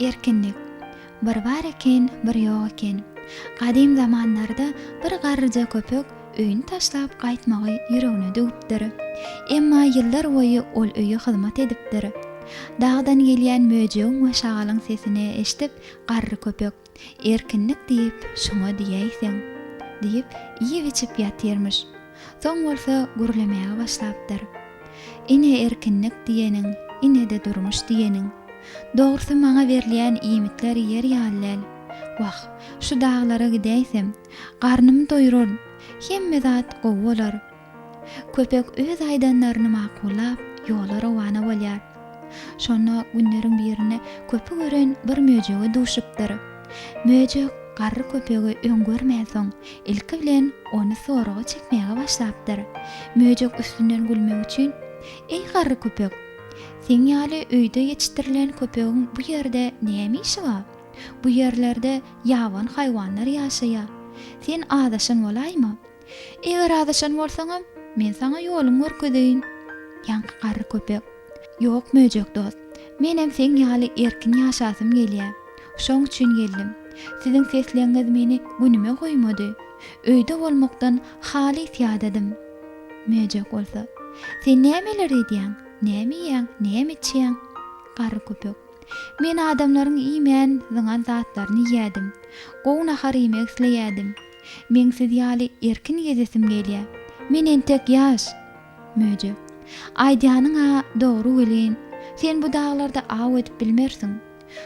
Erkinlik. Bir bar eken, bir ýok eken. Gadym zamanlarda bir garryja köpek öýüni taşlap gaýtmagy ýüregine düwüpdir. Emma ýyllar boýy ol öýe hyzmat edipdir. Dagdan gelýän möjegiň we şagalyň sesini eşidip garry köpek. Erkinlik diýip şoňa diýäýseň! diýip, iýip-içip ýatyrmyş. Soň bolsa gürlemäge başlapdyr. Ine erkinlik diýeniň, ine-de durmuş diýeniň. Dogrusy maňa berilýän iýmitler ýer ýaly däl. Wah, şu daglara gidäýsem, garnymy doýuraryn, hemme zat gowy bolar. Köpek öz aýdanlaryny makullap, ýola rowana bolýar. Şonda günleriň birinde köpük ören bir möjege duşupdyr. Möjek garry köpegi öň görmänsoň, ilki bilen ony soraga çekmäge başlapdyr. Möjek üstünden gülmek üçin, Eý garry köpek! Seň ýaly öýde ýetişdirilen köpegiň bu ýerde näme işi bar? Bu ýerlerde ýabany haýwanlar ýaşaýar. Sen azaşan bolaýma! Eger azaşan bolsaňam, men saňa ýoluň görkezeýin. Ýaňky garry köpek. Ýok, möjek dost. Menem seň ýaly erkin ýaşasym gelýä. Şoň üçin geldim. Siziň sesleňňiz meni günüme goýmady. Öýde bolmakdan halys ýadadym. Möjek bolsa. Sen nämeler edýäň? Näme iýýäň? Näme içýäň? Garry köpek. Men adamlaryň iýmän, zyňan zatlaryny iýýädim. Gowy nahar iýmek isleýädim. Meň siz ýaly erkin gezesim gelýä. Men entek ýaş. Möjek. Aýdýanyň-a dogry welin, sen bu daglarda aw edip bilmersiň.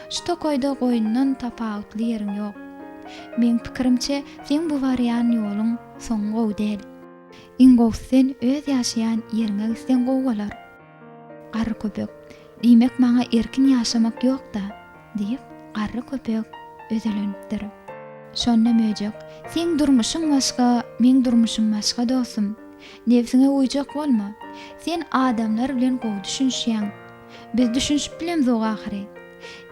Şu tokaýda goýundan tapawutly ýeriň ýok. Meň pikirimçe, seň bu barýan ýoluň soňy gowy däl. Iň gowusy sen öz ýaşaýan ýeriňe gitseň gowy bolar. Garry köpek, Diýmek maňa erkin ýaşamak ýok-da? diýip, garry köpek özelenipdir. Şonda möjek, Seň durmuşyň başga, meň durmuşym başga dostum. Nebsiňe uýjak bolma. Sen adamlar bilen gowy düşünişýäň. Biz düşünişip bilemzok ahyry.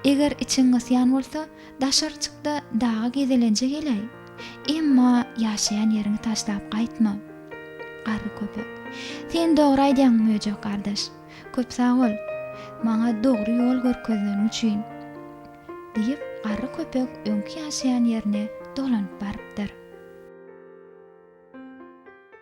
Eger içiň gysýan bolsa, daşary çyk-da daga gezelenje geläý. Emma ýaşaýan ýeriňi taşlap gaýtma. Garry köpek. Sen dogry aýdýaň Möjek gardaş. Köp sag bol, maňa dogry ýol görkezeniň üçin. Diýip, garry köpek öňki ýaşaýan ýerine dolanyp barypdyr.